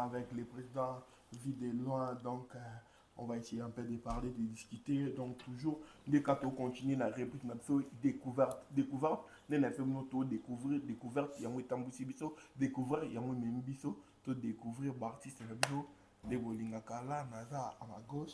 avec le président vie de loin donc euh, on va essayer un peu de parler de discuter donc toujours nde ka tocontinue na réplique na biso découverte découverte nde na biso bino todécouvrir découverte yango etambwisi biso découvrir yango ememi biso todécouvrir baartiste na biso nde bolingaka la naza à ma gauche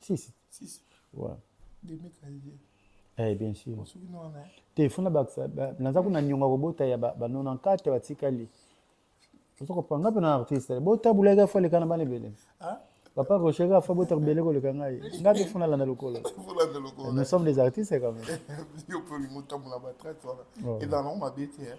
si si si si ouais demi kaye eh bien sûr osuki no wana te funa ba naza kuna nyonga kobota ya ba 94 batikali ozo kopanga pe na artiste bota bulaga fa lekana bana ebele ah papa rochega fa bota bele koleka ngai ngai pe funa landa lokolo funa landa lokolo nous sommes des artistes quand même yo pe mutambo na ba traite wana et dans l'homme habite hein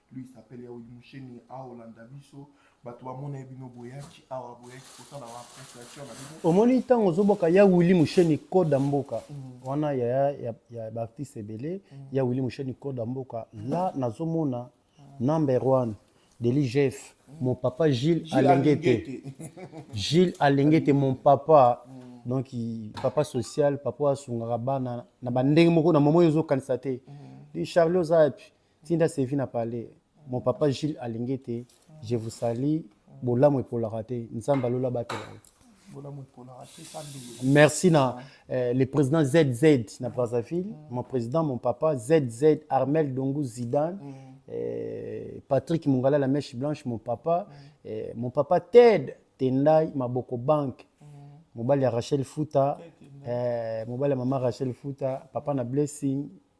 lui s'appelle yaudi musheni aolanda biso bato bamona ye bino boyaki awa boyaki kosala baappréciation na bino omoni ntango ozobwaka ya wili musheni koda mboka mm. wana ya, ya, ya baartiste ebele mm. ya wili musheni koda mboka la nazomona mm. number one deli jef mm. mon papa gilles, gilles alengete gilles alengete mon papa mm. donc papa social papa asungaka bana na bandenge moko na momo oyo ozokanisa te mm. charlie oza yapi tinda sevi na palais mon papa Gilles Alingete je vous salue bolamu epolaka te nzambe alola batela yo Merci na euh, le président ZZ na Brazzaville, mm. mon président, mon papa ZZ Armel Dongu Zidane, mm. euh, Patrick Mungala la mèche blanche, mon papa, mm. euh, mon papa Ted Tendai Maboko Bank, mm. mobali ya Rachel Futa, euh, mobali ya mama Rachel Futa, papa na Blessing,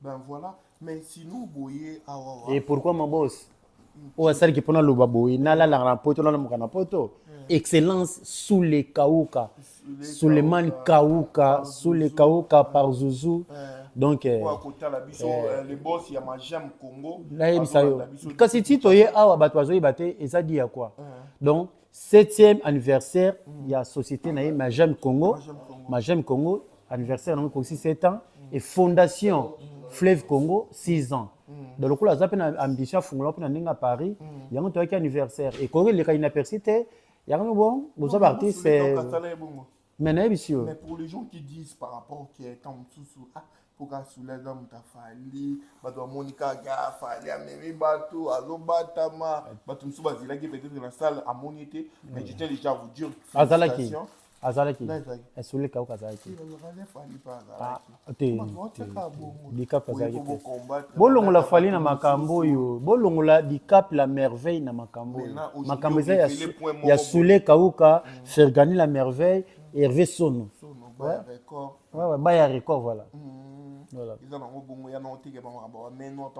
Ben voilà, mais sinon boye awa. Ah, Et pourquoi mon boss oyo asalaki mpo naloba boye nalalaka na poto nalamuka na poto excellence sule kauka suleman kauka sule kauka par zuzu donc eh, nayebisa yo kasi ti toye awa bato bazoyeba te eza di ya kua donc 7e anniversaire mm. ya société na ye Majam Congo. Majam Congo, anniversaire nango ekosi 7 ans mm. et fondation mm. Fleuve Congo 6 ans. Mm. Donc lokola aza mpe na ambition afungola mpe na ndenge ya Paris, mm. yango toyaki anniversaire. Ekoki eleka inaperçu te. Yango bon, boza ba artistes. mais nayebisi yo mais pour les gens qui disent par rapport que temps mosusu ah mpoka asula aza moto afali bato bamoni kaka afali amemi bato azobatama bato mosusu bazelaki peut-être na salle amoni te mais je tiens déjà à vous dire azalaki azalaki esulika oka azalaki azalaki bolongola fali na makambo oyo bolongola dicap la merveille na makambo oyo makambo eza ya sule kauka mm. fergani la merveille herve sono baya record voilà eza nango bongo ya naoteke bango bameno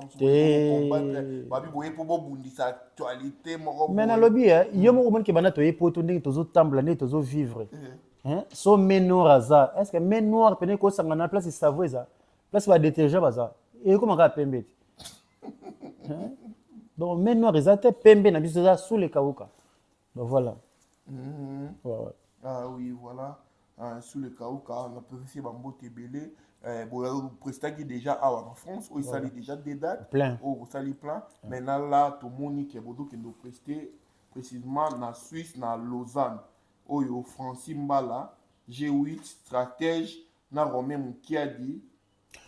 babi boye mpo bobundisa actualité moko me nalobi yo moko omonike banda toye poto ndenge tozotambola ndenge tozovivre eh. hein so me noir aza est ce que me noir pene ko sangana place savo eza place ba détergent baza et comment ka pembe te hein donc me noir eza te pembe na biso eza sous le kauka donc voilà mm -hmm. ouais, ouais. ah oui voilà euh, sous le kauka on a préféré bambote ebele Eh, boprestaki déjà awa na france oyo esali déjà de date oyo bosali plein maintenant la tomoni ke bozokende opreste précisément na suisse na lausanne oyo Francis Mbala, G8, Stratège na Romain Mukiadi.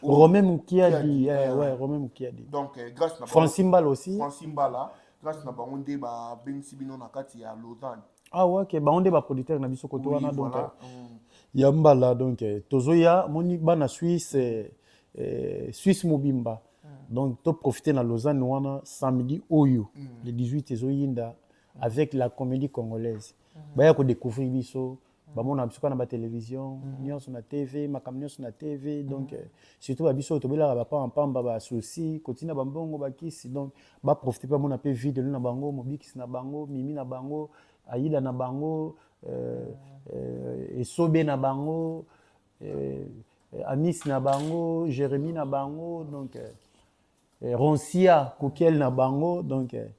Romain Mukiadi, eh, euh, ouais, Romain Mukiadi. Donc, euh, grâce na Francis Mbala aussi. Francis Mbala, grâce na bango nde ba bengisi bino na kati ya Lausanne. Ah ouais, que bango nde ba producteur na biso koto wana donc. Voilà. Euh, mm. Ya Mbala donc tozoya moni bana Suisse eh, eh, Suisse mobimba. Mm. Donc to profiter na Lausanne wana samedi oyo mm. le 18 ezoyinda. avec la comédie congolaise baya kodécouvrir biso bamona biso kaka na batelevision nyonso na tv makambo nyonso na tv donc euh, surtout babiso oyo tobelaka bapamba mpamba basusi kotina bambongo bakisi donc baprofite mpe bamona mpe vie de nous na bango mobikisi na bango mimi na bango ayida na bango euh, euh, esobe na bango euh, amis na bango jérémie na bango donc euh, eh, ronsia kukiel na bango donc eh,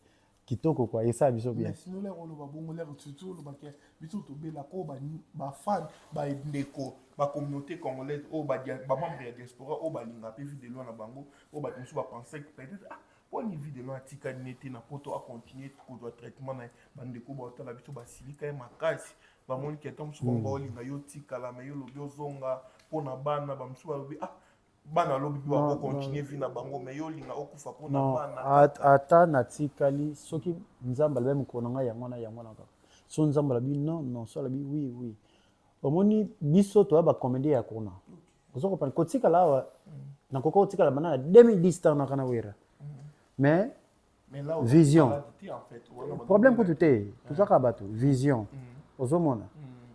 kitoko kwa esa biso bien sinole oloba bongo lere tutu olobaka biso tobela ko bafan bandeko bacommunauté congolaise oyo bamembre ya diaspora oyo balinga mpe vie de loi na bango oyo bato mosusu bapense peut-être ah mponi vie de loi atikali ne te na poto acontinue kozwa traitement na ye bandeko baotala biso basilika ye makasi bamoni ke ntango mosusu bango baolinga yo otikala me yo olobi ozonga mpo na bana bamosusu balobi ah bana lobi mpe bakokontinue vi na bango me yo olinga okufa mpo na bana ata natikali soki nzambe alabi mokolo na ngai yango wana yango wana kaka so nzambe alabi non non so alabi oui oui omoni biso toya bacomédie ya kuna oza kopana kotikala awa mm. nakoka kotikala bana na 2010 ntango naka na wera mm. mais vision problème kutu te tozaka bato vision mm. ozomona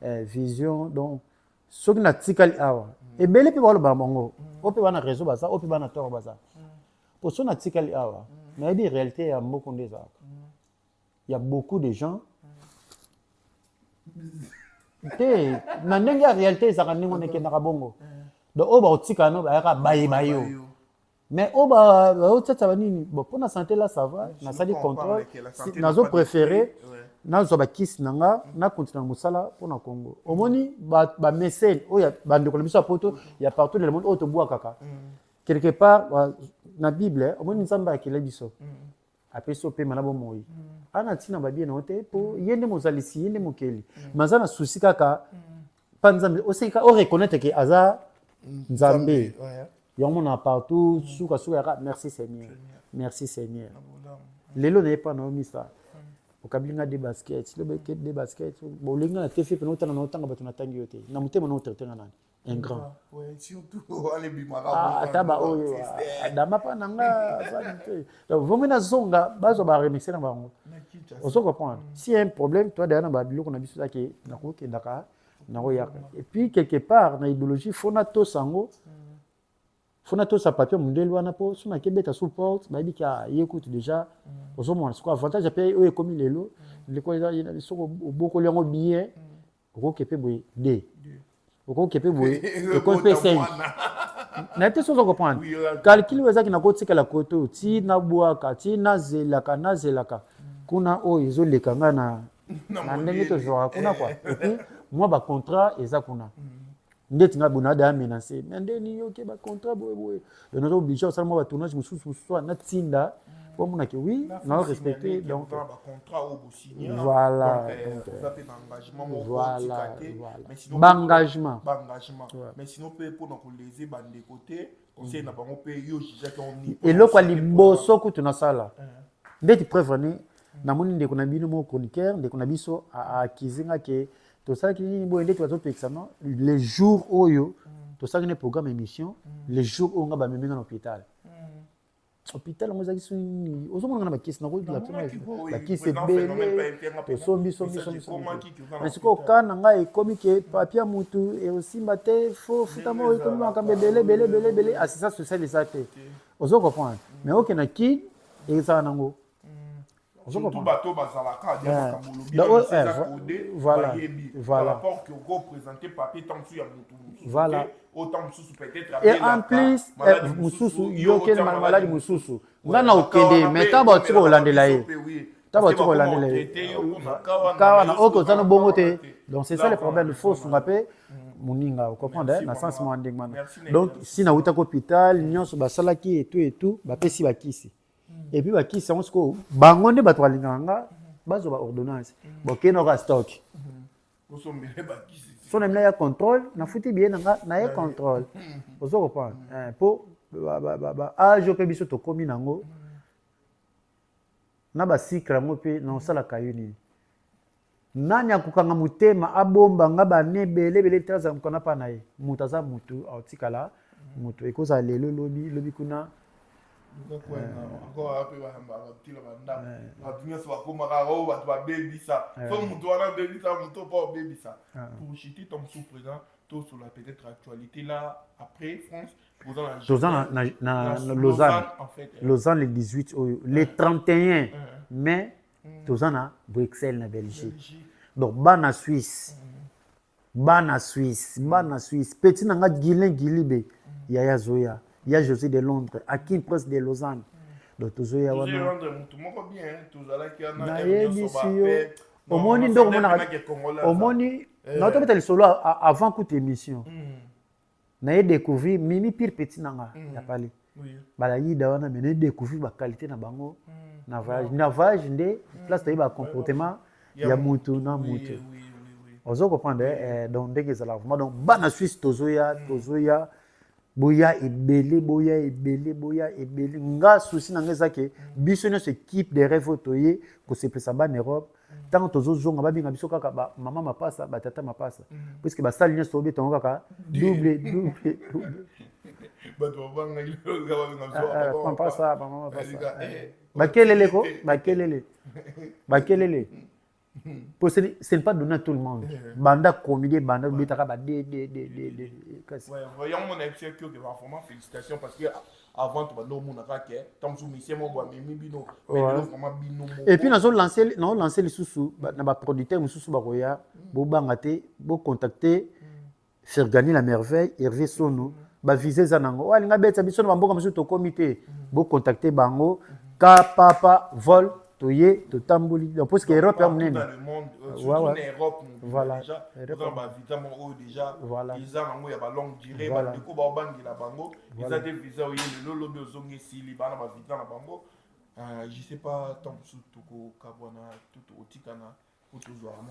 eh, vision donc soki natikali awa ebele mpe baloba na bango mm. oyo mpe bana réseau baza oyo mpe bana toro baza mm. mpo so natikali awa mm. nayebi réalité ya mboko nde ezalaka ya beaucoup de gens te na ndenge ya réalité ezalaka ndenge wana ekendaka bongo donc oyo bakotikana bayaka baye bayo mais oyo baotyatya banini bon mpo na sante la sava nasali contrôle nazo préféré nazwa bakisi na nga mm. nakontina na mosala mpo na congo omoni bamesene oyo bandeko na biso ya poto mm. ya partout na le monde oyo tobwakaka mm. quelque part na bible omoni nzambe akela biso apesi yo pema na bomoi a na ntina babie na yo te mpo ye nde mozalisi ye nde mokeli me aza na susi kaka mpa nzambe oseka oreconnaitre ke aza nzambe yango mona partout sukasuka yaka merci seigneur merci seigneur lelo naye mpa na yo misa okabili nga de basket lobi de basket bolingi nga na tefe pena otanga na otanga bato natangi yo te na motema na otraite nga nani un grand ah, ata baoyo ah, adama mpa na nga azali te donc vomi nazonga bazwa baremixe na bango ozo comprendre mm. si un problème toi deya na babiloko na biso ezaki nakokendaka nakoyaka et puis quelque part na idéologie fo natosa yango mm. fo natosa papier mondele wana mpo so nakebeta sous porte bayebi ke ah, ye kutu déjà mm. ozomona siko avantage mpe oyo ekomi lelo ndeko soko obokoli yango billet okoke mpe boye de okoke mpe boye ekoki mpe sengi na te sozo comprendre calcul oyo ezaki nakotikala kote oyo ti nabwaka ti nazelaka nazelaka kuna oyo ezoleka ngai na na ndenge tozwaka kuna kua epuis mwa bacontrat eza kuna mm. ndeti ngai boye nada ya menase me nde nini oke bacontrat boyeboye donc naza oblige osala mwa batournage mosusu mosusu a natinda po amonake wi nao respecte donc voilà baengagement eloko ya liboso kutu nasala eh. ndeti preuve ani namoni ndeko na bino moko chroniqueur ndeko na biso akizi nga ke tosalaki nini boye nde tozopekisa no le jour oyo tosalaki na programme émission le jour oyo nga bamemi nga na hôpital hôpital yango ezalaki soki nini ozomona nga na bakisi nakobakisi ebele tosombi sombi sombi na sikoyo ka na ngai ekomi ke papia motu ekosimba te fo futa moko ekomi makambo ebele ebele ebele ebele asisa social eza te ozo comprendre mais oke na kin ezala nango surtout bato oyo bazalaka dia makambo olobi bamisi eza kode bayebi par rapport que okopresente papier ntango mosusu ya motu mosusu o ntango mosusu peut-être et en plus mosusu yokeli maladi mosusu nga na okende mais ntango bato tika kolandela ye ntango bato tika kolandela ye kawa na oyo koza no bongo te donc c'est ça le problème il faut sunga mpe moninga ocomprendre na sens mwa ndenge wana donc si nawuta ko hôpital nyonso basalaki etu etu bapesi bakisi et puis bakisi yango sikoyo bango nde bato balingaka nga bazwa ba ordonnance bokei na oka stock so na mina ya contrôle nafuti biye na nga naye contrôle ozo comprendre eh, mpo baage mpe biso tokómi nango na basikre yango mpe na osalaka yo nini nani akokanga motema abomba nga bane ebele ebele te azala mokana mpa na ye moto aza motu aotikala motu ekozala lelo lobi lobi kuna tosola peut-être actualité là après france toza na lausanne lausanne le 18 oyo le 31 mai mm. toza na bruxelles na belgique donc bana suisse mm. bana suisse mm. bana suisse petit na nga guilin guilibe yaya zoya ya josé de londres akin prince de lausanne donc tozoya wana nayebisi yo omoni nde omoni eh. natobeta lisolo avant kuta émission na ye découvrir mimi pire petit na nga mm. ya pale balayida wana me na découvrir baqualité na bango mm. na voyage na voyage nde mm. place toyebi bacomportement ya mutu na mutu ozo comprendre eh, eh, donc ndenge ezalaka vraiment donc bana suisse tozoya tozoya boya ebele boya ebele boya ebele nga souci na nga eza ke biso nyonso équipe de rêve oyo toye kosepelisa bana europe ntango tozozonga babenga biso kaka bamama mapasa batata mapasa mm. puiske basali nyonso tobetango kaka double double double mapasa bamama mapasa bakelele ko bakelele bakelele po ce n'est pas donné à tout le monde banda comédie banda obetaka ba de de de de kasi yango mona episode kioke ba vraiment félicitation parce que avant to bando mona ka ke tant que musicien mo boa mimi bino mais bino vraiment bino mo et puis nazo lancer na lancer lisusu na ba producteur mususu ba koya bo banga te bo contacter Fergani la merveille Hervé Sono ba visa eza nango wa linga beta biso na mboka mususu to comité bo contacter bango ka papa vol toye totamboli donc parce que Europe ya munene voilà voilà eza nango ya ba longue durée ba ndeko ba obangela bango eza te visa oye lelo lobi ozongi esili bana ba visa na bango euh, je sais pas tant mosusu tokokabwana tutu otikana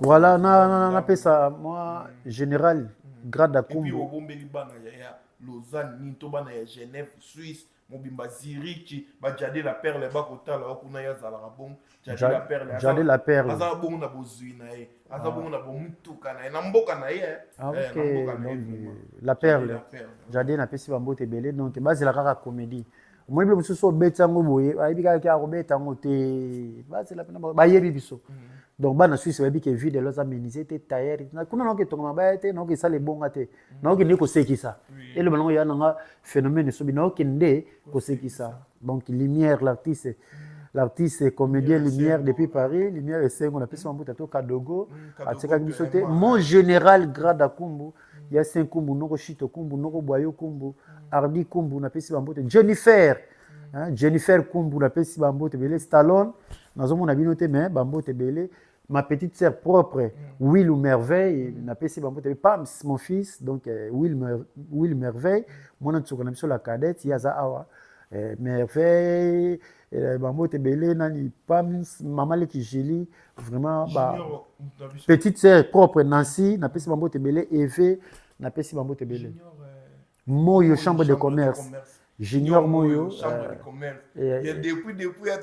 Voilà, na na na pesa moi général grade akumbu. Puis obombeli bana ya ya Lausanne, ni to bana ya Genève, Suisse, mobimba Zurich, ba Jade la Perle ba kotala wa kuna ya zala bon. Jade la Perle. Jade la Perle. Aza bon na bozui na ye. Aza ah. bon na bomutuka na ye. Na mboka na ye. Eh. Ah, eh, okay. Eh, na mboka na ye. La Perle. Jade na pesi ba mbote belé donc bazela kaka comédie. omoni bile mosusu obeti yango boye bayebi kaka ke akobeta yango te bazela mpena bayebi biso mm. donc bana suisse bayebi ke vide elo aza menise te tailleur kuna naoki etonga mabaya te naoki esala ebonga te mm. naoki nde kosekisa eloba nango ya nanga phénomène esobi naoki nde kosekisa donc lumière l'artiste mm. l'artiste comédien lumière depuis paris lumière esengo napesi mambuta to kadogo atikaki biso te mon général grade akumbu ya saint kumbu noko shito kumbu noko bwayo kumbu ardi kumbu napesi bambote jennifer hein, jennifer kumbu napesi bambote ebele stallone nazomona bino te mais bambote ebele ma petite sœur propre will ou merveille napesi bambote ebele pams mon fils donc euh, will, mer, will merveille mwana nsuka na biso la cadette ye aza awa euh, merveille Eh, bambote ebele nani pams mama leki julie vraiment ba petite sœur propre nancy napesi bambote ebele eve napesi bambote ebele moyo chambre de commerce junior moyo euh, euh,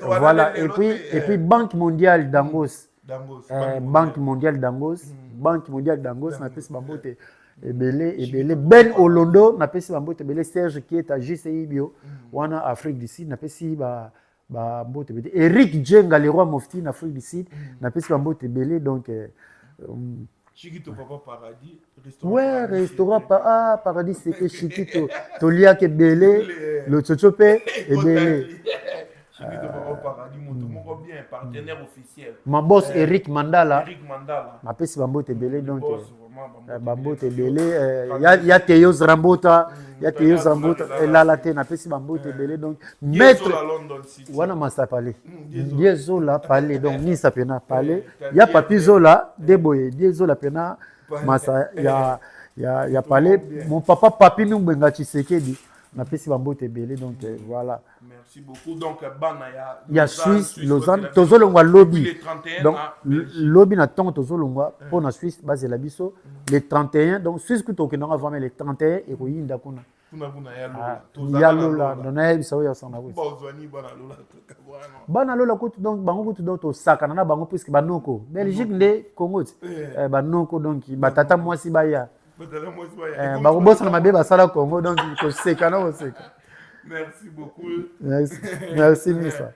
voilà et puis et puis banque mondiale dangos Eh, banque mondiale dangos hmm. banque mondiale dangos napesi bango te ebele ebele ben olondo napesi bango te ebele serge kieta jci bio hmm. wana afrique du sud napesi ba bambote ebele eric jenga le roi mofti na afrique du sud hmm. napesi bambote ebele donc euh, Chikito papa paradis restaurant ouais restaurant pa ah paradis c'est que Chikito toliaka ebele lotsotso mpe ebele Chikito papa paradis moto hmm. moko bien partenaire officiel ma boss eh, Eric Mandala Eric Mandala mapesi bambote ebele donc eh, bambote ebele eh, ya Teyos Rambota hmm, ya Teyos Rambota elala te napesi bambote ebele donc maître wana masta pale die zola pale donc nisa pena pale ya papi zola de boye die zola pena masta ya ya ya pale mon papa papi mingbenga tshisekedi napesi bambote ebele donc euh, voilà merci beaucoup donc bana ya ya suisse lausanne tozolongwa lobi donc lobi na ntongo tozolongwa mpo euh. na suisse bazela biso le 31 donc suisse kutu okendanga vraiment le 31 ekoyinda kuna kuna kuna ya lola ah, tozala ya lola ndo nayebisa oyo ya sanga kutu bozwani bana lola kaka bwana bana lola kutu donc bango kutu donc tosakana na bango puisque banoko belgique mm. nde congo ti eh. eh, banoko donc batata mwasi baya eh, bakobosana mabe basala congo donc kosekana koseka merci beaucoup merci merci misa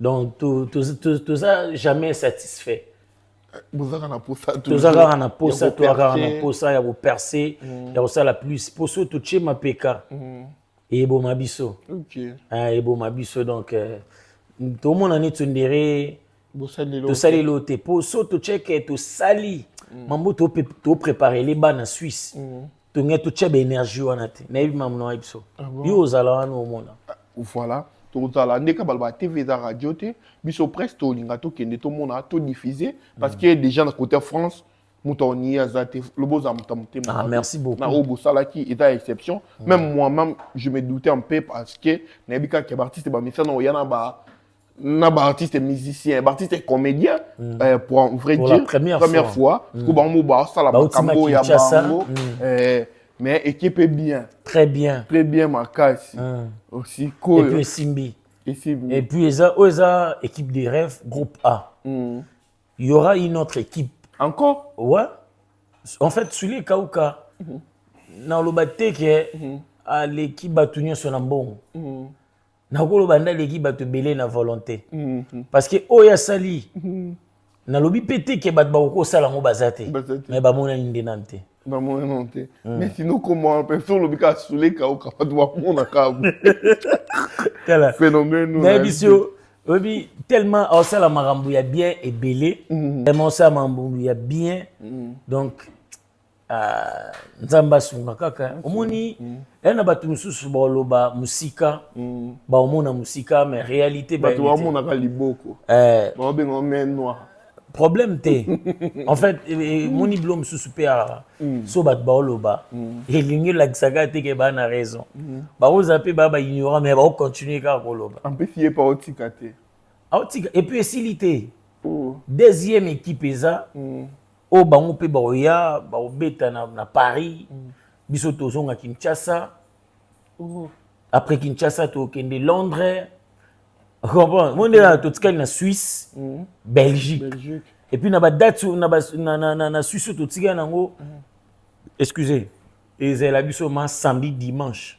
donc toza jamais satisfait toza kaka na posa toza kaka na posa ya koperce mm. ya kosala plus po so totie mapeka mm. eboma biso ah, eboma biso donc euh, tomona nini tsundere tosaleli oyo te po so totieke tosali mm. mambo topreparele bana suisse tonge totya baénergie wana te nayebi mamu na biso ah yo ozala wana omona ah, voilà tozala nde ka baloba tv eza radio te biso presse tolinga tokende tomona todiffuse parce que déjà na côté france moto aoniye aza te loba oza moto ya motema ah, merci beaucoup na oyo bosalaki eza exception mm. même moi même je me doutais un peu parce que nayebi kaka ya baartiste bamesana oya na ba na ba artiste musicien ba artiste comédien mm. euh, pour en vrai pour dire la première, première fois mm. ko bango ba sala ba kambo ya bango mm. euh, mais équipe est bien très bien très bien makasi mm. aussi cool et puis Simbi et, Simbi. et puis eza oh, eza équipe des rêves groupe A mm. il y aura une autre équipe encore ouais en fait celui Kauka mm -hmm. na loba te que mm -hmm. aleki bato nyonso na mbongo mm -hmm. nakoloba nde aleki bato ebele na volonté mm -hmm. parce que oyo asali mm -hmm. nalobi mpe te ke bato bakoki kosala yango baza te mai bamonani nde nanu te bamonani te mm. mais sino komona mpe so olobi kaka sule kauka bato bamonaka tala phénomène nayebisi yo oyebi tellement osala makambo ya bien ebele mm. tellement osala makambo ya bien mm. donc Ah, nzambe asunga kaka omoni mm. ya na bato mosusu baoloba mosika mm. baomona mosika mais réalité bato baomonaka liboko eh. baobengao mai noir problème te en fait emoni eh, eh, bilo mosusu mpe awa mm. so bato baoloba elingi elakisaka te ke baa na raison bakozala mpe baa baignorant mais baocontinue kaka koloba ampesi ye mpe aotika te aotika epuis esili te oh. deuxième équipe eza oyo bango mpe baoya baobeta na, na paris mm. biso tozonga kinshasa oh. après kinshasa tokende londres comprendre mo ndenge totikali na suisse mm. belgique, belgique. et puis na badate na, ba, na, na, na, na suisse oyo totikali yango mm. excuse ezala biso ma samedi dimanche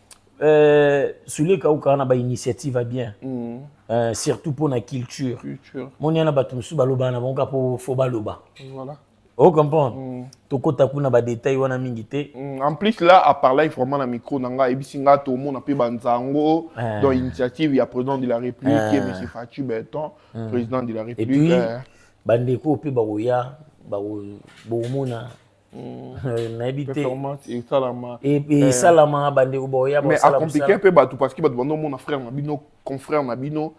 Euh, sule kauka na bainitiative ya bien mm. euh, surtout mpo na culture moni yana bato mosusu balobaka na bango kaka mpo fo baloba voilà. o comprendre mm. tokota kuna badetail wana mingi te mm. en plus là aparlai vraiment na micro na ngai ayebisi ngai tomona mpe banzango eh. dans initiative ya président de la république eh. ye monsieur faci beton mm. président de la république eh. bandeko mpe bakoya bokomona Hmm. Eh, nayebi te esalama eh, eh. bandeko baoyamais acomplike mpe bato parce que bato bando omona frère na bino confrère na bino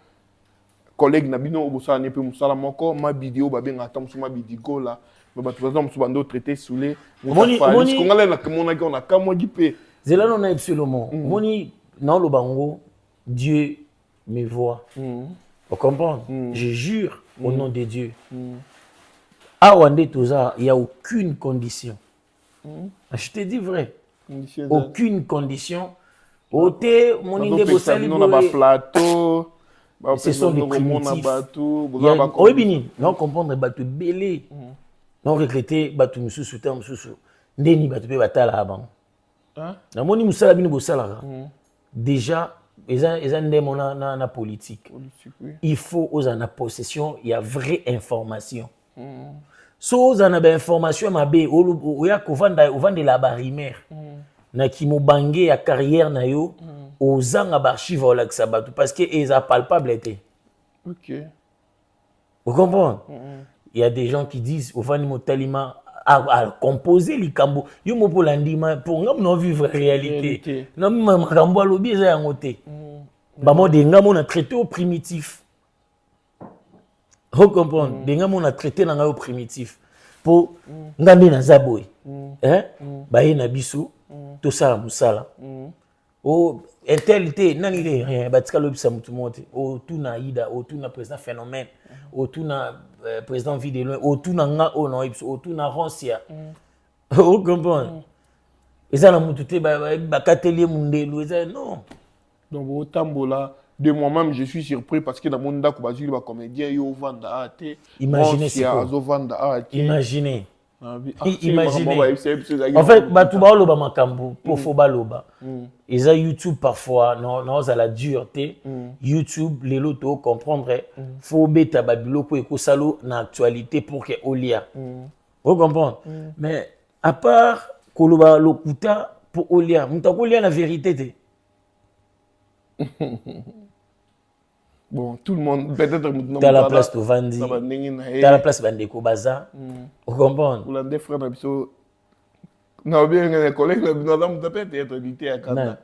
collègue na bino obosala ne mpe mosala moko mabidi oyo babengaka ata mosusu mabidi gola me bato baza mosusu bando traité soule kongalai namonaki ona kamwaki mpe zela no na epsolomo omoni hmm. naoloba yango dieu mes voix mm. vous comprenez mm. je jure mm. au nom de Dieu mm. awa nde toza il y a aucune condition mm. je te dis vrai Monsieur aucune condition ote moni nde bosali na ba plateau ce sont des primitifs oyebi nini na comprendre bato ebele mm. na recrute bato mosusu temps mosusu ndeni bato mpe batalaka bango namoni mosala bino bosalaka mm. déjà eza, eza ndemo na, na, na politique, politique oui. il faut ozala na possession ya vraie information mm. so ozala na bainformation ya mabe oya kovanda ovandela barimere mm. na kimobange ya carrière na yo mm. ozanga baarchive olakisa bato parce que eza palpable te okay. Vous comprenez mm -hmm. Il y a des gens qui disent, Ovani Motalima a, a composé likambo. Yo mo pour l'andima, pour nga mon vivre réalité. Non, mais makambo a lobi eza yango te. Mm. Ba mo de nga mon traité au primitif. Vous comprenez mm. De nga mon traité na nga au primitif. Pour mm. nga nde naza boy. Mm. Hein? Mm. Ba ye na biso, mm. to sala musala. Mm. o intel te nani te rien batika lobisa motu moko te otuna aida otuna président phénomène otuna euh, président vie de loin otuna nga oyo na oyebiso otuna rancia ocomprendre mm. eza na motu te bakateli ye mondelu eza non donc otambola de moi-même je suis surpris parce que namoni ndako bazwili bacomédien yo ovanda a te imagine azovanda a te imagine Ah, ah, imaginez en fait bato baoloba makambo mpo fo baloba eza youtube parfois naozala dur te youtube lelo to comprendre fo obeta babiloko ekosalo na actualité pour ke olia o comprendre mais à part koloba lokuta mpo olia moto akolia na vérité te bon tout le monde peut-être mutu tala place tovandi tala place bandeko baza hmm. ocomprendre olande frère na biso na obenge na collègue na bino aza moto peut-être être lite ya kanda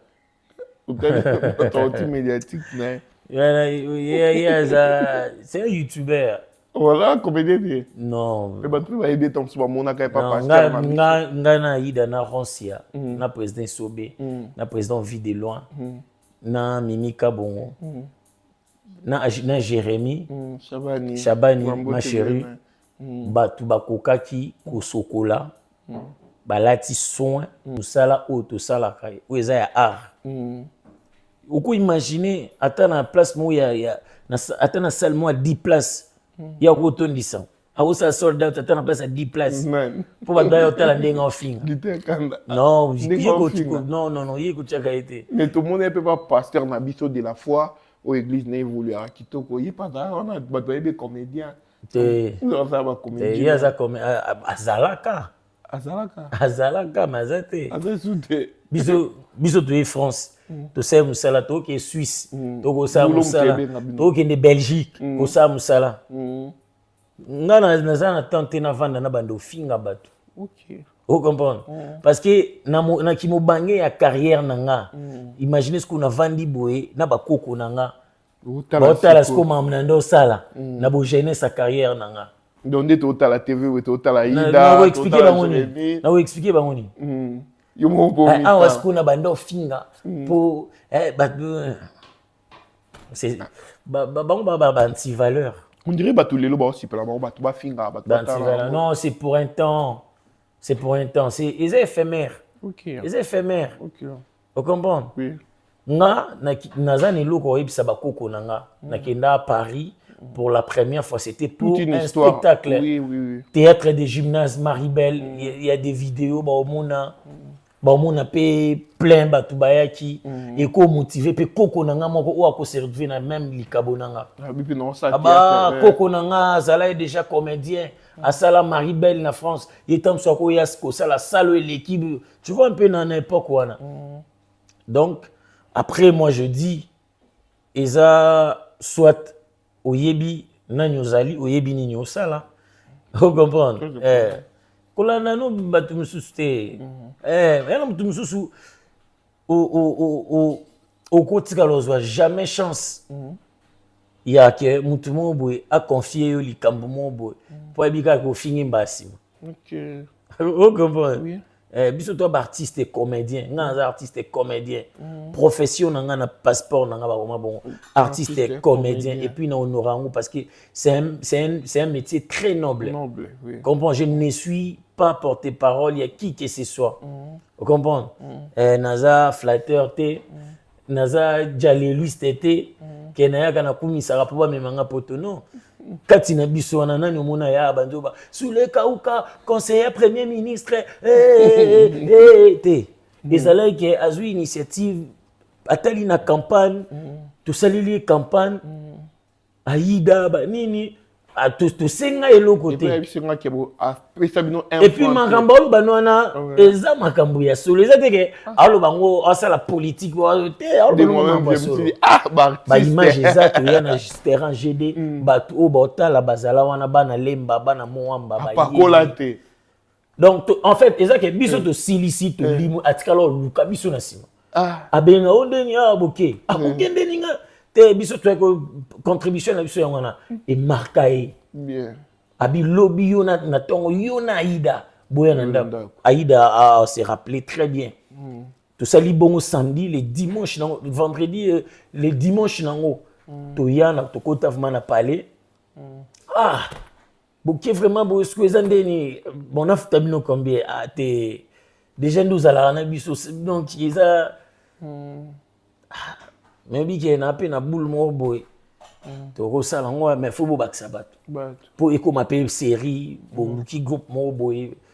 ototi médiatique na ye aza c'est un youtubeur oza comédien te non mpe bato mpe bayebi ete mosusu bamonaka ye papangai na yida na roncia hmm. na président sobe hmm. na président vie de loin na mimi kabongo mm. na, na jérémie mm, shabani, shabani ma chérie mm. bato bakokaki kosokola mm. balati soin mm. mosala oyo tosalaka oyo eza ya art mm. okoimagine ata na place moko ya, ya na, ata na salle moko ya 10 place mm. ya kotondisa akosala sold out ata na place ya 10 place mpo bato baya otala ndenge ofinga non non non ye kotyaka ye te mais tomoni ye mpe ba pasteur na biso de la foi oyo église na evoluaka kitoko ye pazala wana bato bayebi comédien te ye aza azalaka azalaka azalaka mais aza te aza esu te biso biso toye france mm. tosala mosala tokokende suisse mm. tokosala mosala tokokende belgique mm. kosala mosala nga naza na temps te navanda na bande ofinga bato okay. o comprendre mm. parce que na, na kimobange ya carrière na nga mm. imagine sikoyo navandi boye na bakoko na nga baotala sikoyo mamu na nde osala mm. na bojeunesse ya carrière na nga donc nde totala tv oyo totala idaexplike bango nini nakoexplike bango nini yo moko awa sikoyo na bande ofinga mpo eh, bango baba banti valeur on dirait bato lelo baosipela bango bato bafinga bato batala non c'est pour un temps c'est pour un temps c'est eza éphémère okay. eza éphémère okay. ocomprendre oui. nga naza na eloko oyebisa bakoko na nga mm. nakenda à paris pour la première fois, c'était pour Toute une un histoire. spectacle. Oui, oui, oui. Théâtre des gymnases, Maribel, mm. il mm. y, y, a des vidéos, bah, au Mona. Mm. baomona mpe plein bato bayaki mm. ekomotive mpe koko na nga moko oyo akoserve na meme likabo na nga aba ah, eh. koko na nga azalaki déjà comédien asala marie belle na france ye ntango so akoya kosala salo eleki tu vois mpe na na époque wana mm. donc après moi je dis eza soit oyebi nani ozali oyebi nini osala o comprendre eh, kolanda no bato mosusu te mhm. eh, yana moto mosusu okotikala ozwa jamais chance mhm. ya ke motu moko boye aconfie yo likambo moko boye mpo mhm. ayebi kaka kofingi mbaa nsima o comprendre Eh, biso to baartiste comédien ngai naza artiste comédien mm. profession na ngai na passeport na ngai bakoma bongo mm. artiste, artiste comédien, comédien et puis na honore yango parce que c'est un, un, un métier très noble, noble oui. comprends je ne suis pas porté parole ya qui que ce soit mm. comprendre mm. eh, naza flatteur te mm. naza jaleluiste te mm. ke nayaka nakumisaka mpo bamema nga poto non kati na biso wana nani omona ya banzoba sulekauka conseiller premier ministre eh, eh, eh, te mm. ezalaki ke azwi initiative atali na campagne mm. tosaleli ye campagne Aida ba nini ah, tosenga eloko te epuis makambo aloba no wana eza makambo ya solo eza teke ah. aloba yango asala politike te baimage eza toya na terrain gd mm. bato oyo baotala bazala wana bana lemba bana moamba bapakola te donc en fait eza ke biso eh. tosilisi eh. tolimo atikala oluka biso na nsima ah. abenga o ndeni a boke akokende ah, hmm. ninga te biso toyaki contribution na biso yango wana hmm. emarka ye abi lobi yo na ntongo yo na aida boya na ndako aida a se rappelé très bien hmm. tosali bongo samedi le dimanche nango vendredi euh, le dimanche nango toya na tokota vraimen na palais ah boke vraiment boye sikoyo eza nde nini bon nafuta bino combien ah te déjà nde ozalaka na biso donc eza hmm. ah, nayebi ke na mpe na boule moko boye hmm. tokosala yango mais fo bobakisa bato mpo ekoma mpe série boluki groupe moko boye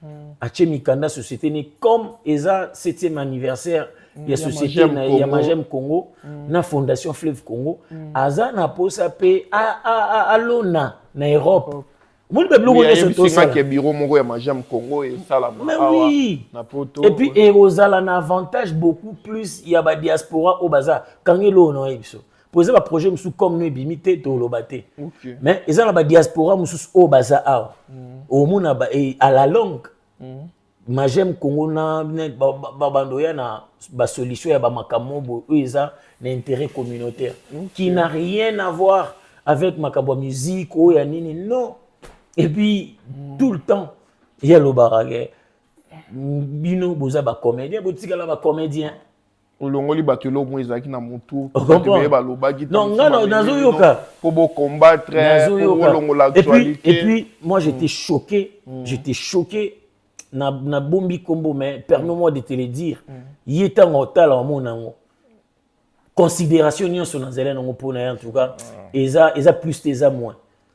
Hmm. atie mikanda société ni comme eza 7e anniversaire hmm. ya société ya magem congo hmm. na fondation fleuve congo aza na mposa mpe alona na europe omoni mpe biloko nyonso tosala biro moko ya magem congo esalama awa na poto epuis ekozala na avantage beaucoup plus ya badiaspora oyo baza kangelo oyo na oyebi biso mpo eza baprojet mosusu comme no ebimi te toloba te mais eza na badiaspora mosusu oyo baza awa mm. omona eh, à la longue mm. magem congo na babando ya na basolution ya bamakambo boye oyo eza na intérêt communautaire qui n'a rien à voir avec makambo ya musique oyo ya nini non et puis mm. tout le temps ye alobaka ke bino boza bacomédien botikala bacomédien olongoli bato eloko moko ezalaki na motu baye balobaki non nga nazoyoka mpo bocombattre olongola actualité et puis moi j'étais mm. choqué mm. j'étais choqué na na bombi kombo mais permets moi de te le dire mm. ye ntango otala omona yango considération nyonso nazali nango mpo na ye en tout cas ah. eza eza plus te eza moins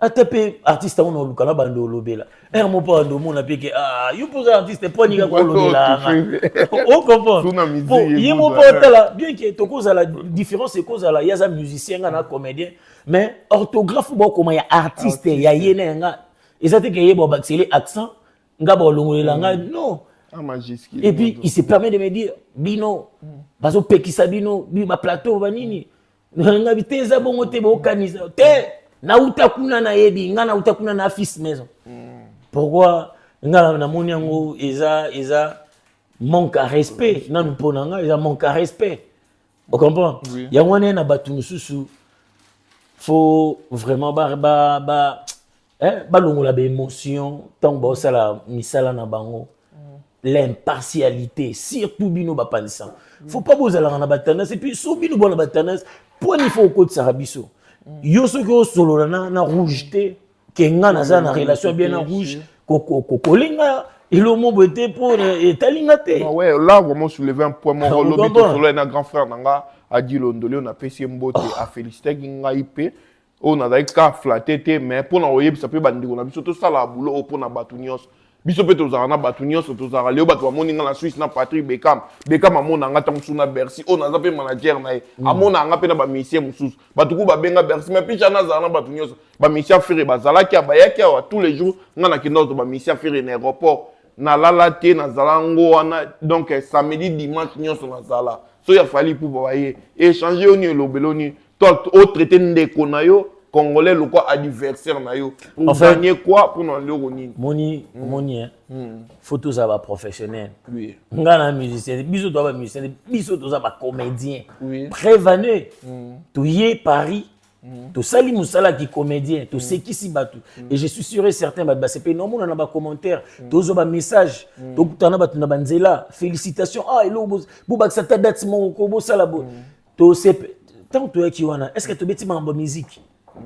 ata mpe artiste yango naoluka na bando olobela ere mo mpo bando omona mpe ke ah, yo mpo oza artiste mpo aninga kolobelanga okomprendrepo ye mo mpo otala bien ke tokozala différence ekozala ye aza musicien nga na comédien mais orthographe bokoma ya artiste ya ye na yanga eza te ke ye babakisele accent nga baolongolela mm. nga non et puis il se permet de me dire bino mm. bazopekisa bino baplateau banini ngabi te eza bongo te bokanisa te nauta kuna nayebi nga nauta kuna na fils maison hmm. pourquoi nga namoni yango eza eza manque à respect nanu mpo na nga eza manque à respect ocomprend oui. yango wana na bato mosusu faut vraiment ba, ba, ba eh, balongola baémotion ntango baosala misala na bango mm. l'impartialité surtout bino bapanisa mm. faut pas bozalaka na batendance epuis so bino bona batendance mponi faut okotisaka biso mm. yo soki osolola na, na rouge te ke nga naza na relation bien na rouge kokolinga elomo boye te mpo etali nga te ouais, là vraiment souleve un point moko lobi tosolola na grand frère na nga adi londolio napesi ye mbote oh. afelicitaki ngai mpe oyo nazali kaka flate te mais mpo na koyebisa mpe bandeko na biso tosalaka bulo oyo mpo na bato nyonso biso mpe tozalaka na bato nyonso tozalaka leo bato bamoni ngai na swisse na patrick bekam bekam amona nga ntango mosusu na bercy oyo naza mpe manager na ye mm. amona nga mpe na bamisien mosusu bato kuku babenga bercy mais picha nazala na bato nyonso bamisien fere bazalaki a bayaki awa tous les jours ngai nakenda oto bamisien fere na aéroport nalala te nazala ngo wana donc eh, samedi dimanche nyonso nazala so ya fali pupa baye echange yo nini elobeli yo nini toi o traité ndeko na yo congolais lokwa adversaire na yo pour en fait, gagner quoi pour na ndeko nini moni mm. moni hein mm. faut tous ba professionnel oui nga na musicien biso to ba musicien biso to ba comédien oui prévenu mm. to yé Paris Mm. tosali mosala ki comédien tosekisi mm. bato mm. et je suis sûr et certain bato basepeli na omona na bacommentaire tozwa bamessage tokutana na bato na banzela félicitation ah eloko bobakisa ta date moko ko bosala bo To se tant to yaki wana, est-ce que to beti mambo musique?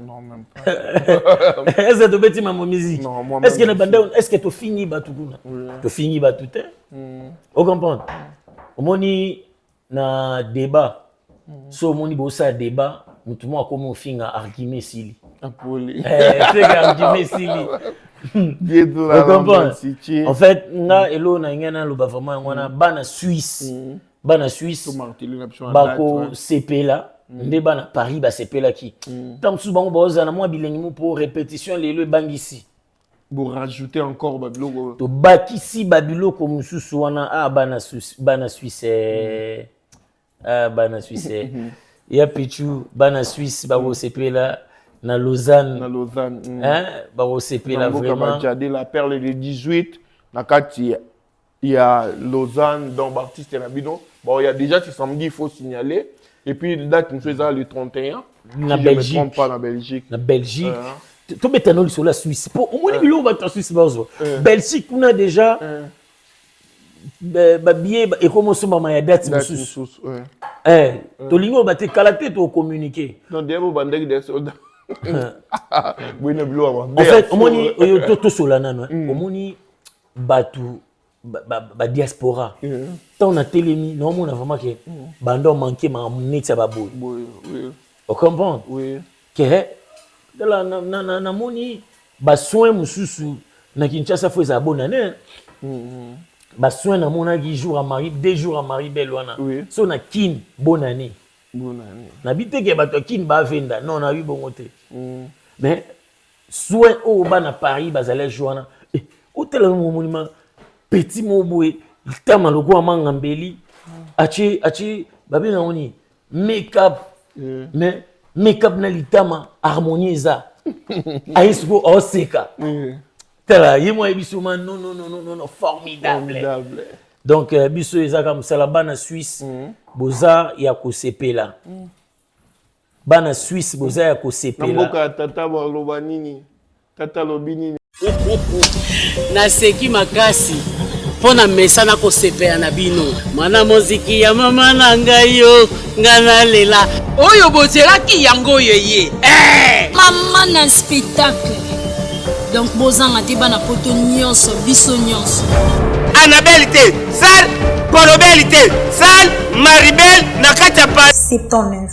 Non, même pas. est-ce que to beti mambo musique? Non, moi Est-ce que na banda, est-ce que to fini ba tout kuna? To fini ba tout hein? Mm. Vous comprenez? Omoni na débat. Mm. So omoni bo sa débat, mutu mo akomi ofinga argument sili. Apoli. Eh, c'est argument sili. en fait nga mm. elo na ngai naloba vraiment yango wana mm. bana suisse mm. bana suisse bakosepela mm. nde bana paris basepelaki mm. ntango mosusu bango baozala na mwa bilengi mo mpo repetition lelo ebangisi borajoute encore babiloko tobakisi babiloko mosusu wana a ah, bana suisse bana suisse eh. mm. ah, bana suisse eh. ya pichu bana suisse bakosepela na lausanne na lausanne eh, bakosepela vraiment la perle de 18 na kati ya Lausanne donc ba artistes na bino bon ya déjà ce samedi il faut signaler et puis date mosusu eza le 31 na si Belgique. je me trompe pas na Belgique na Belgique uh -huh. tobeta no lisolo ya swisse mpo omoni biloko bato ya swisse bazwa belgique kuna déjà babiye ekomi osombama ya date mosusu tolingi oyo bate kala te tocommunike omoni oyo tosola nano omoni bato badiaspora ba, ba ntango mm. natelemi naomona vraiment ke mm. banda omanke makambo neti ya baboye ocomprendre oui. ke tala namoni basoin mosusu na kinshasa fo ezala bonane mm. basoin namonaki jour ya mari deux jours ya mari bele wana oui. so na kin bonane nabi teke bato ya kin bavenda non nabi bongo te mm. mais Soin oyo bana Paris bazali azwi wana eh, otala yango omonima petit moko boye litama lokola manga mbeli atie atie babenga yango nini makeup eh. mais makeup na litama harmonie eza aye sikoyo aoseka eh. tala ye mwa ayebi soma non non non non non formidable donc euh, biso ezaka mosala bana suisse mm. boza ya kosepela mm. bana suisse boza ya kosepela mboka ya tata baloba nini tata alobi nini naseki makasi mpo na mesana kosepela na bino mwana moziki ya mama na ngai yo ngai nalela oyo bozelaki yango oyo eye eh! mama na spectacle donc bozanga te bana poto nyonso biso nyonso anabele te sal kolobeli te sal maribel na kati ya pa 79